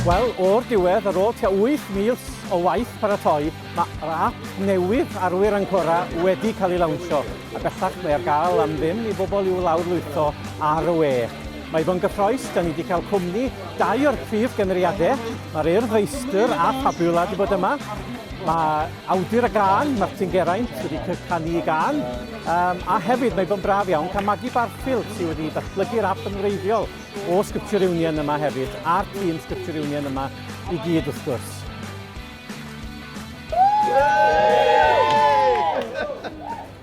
Wel, o'r diwedd, ar ôl tua wyth mis o waith paratoi, mae'r ap newydd Arwyr Ancora wedi cael ei lawnsio, a bellach mae ar gael am ddim i bobl i'w lawrlwytho ar y we. Mae fo'n gyffroes, 'da ni 'di cael cwmni dau o'r prif gymeriadau. Mae'r Urdd Feistr a Fabula 'di bod yma. Mae awdur y gân, Martin Geraint, wedi canu y gân. Um, a hefyd, mae fo'n braf iawn cael Maggie Barfield sydd wedi datblygu'r app yn wreiddiol o Scripture Union yma hefyd, a'r tîm Scripture Union yma i gyd wrth gwrs.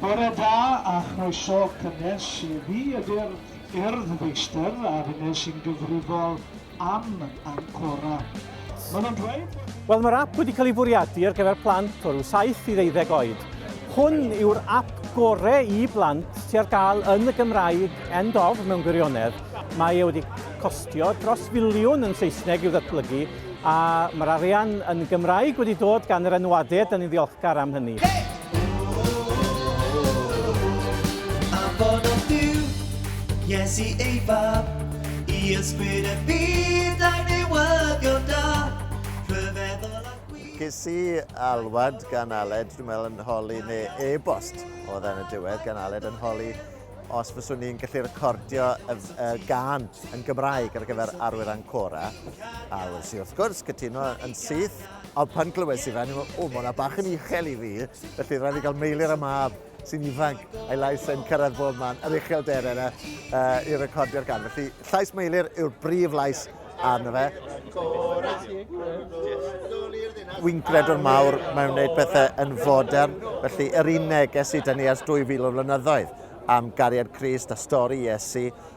Bore da a chroeso cynnes i fi ydy'r Cerdd feistr a finne sy'n gyfrifol am Ancora. Maen nhw'n dweud bod... Wel, mae'r ap wedi cael ei fwriadu ar gyfer plant o ryw 7 i ddeuddeg oed. Hwn yw'r ap gore i blant sy ar gael yn y Gymraeg, end of mewn gwirionedd. Mae e wedi costio dros filiwn yn Saesneg i'w ddatblygu, a mae'r arian yn Gymraeg wedi dod gan yr enwadau, da ni'n ddiolchgar am hynny. Iesu ei fab, i ysbryd y byd a'i newyddion da, rhyfeddol a gwych. Ges i alwad gan Aled, dwi'n meddwl yn holi, neu e-bost oedd yn y diwedd gan Aled yn holi os fyswn ni'n gallu recordio y, y gan yn Gymraeg ar gyfer Arwyr Ancora. A wrth i wrth gwrs cytuno yn syth Ond pan glywes i fe, ni'n meddwl, o, mae hwnna bach yn uchel i fi, felly rhaid i gael meilir y mab sy'n ifanc, a'i lais yn cyrraedd bob man, yr uchel der yna, uh, i recordio'r gan. Felly, llais meilir yw'r brif lais arno fe. Wy'n gredwr mawr mewn gwneud pethau yn fodern, felly yr un neges i dynnu ers 2000 o flynyddoedd am gariad Christ a stori Iesu,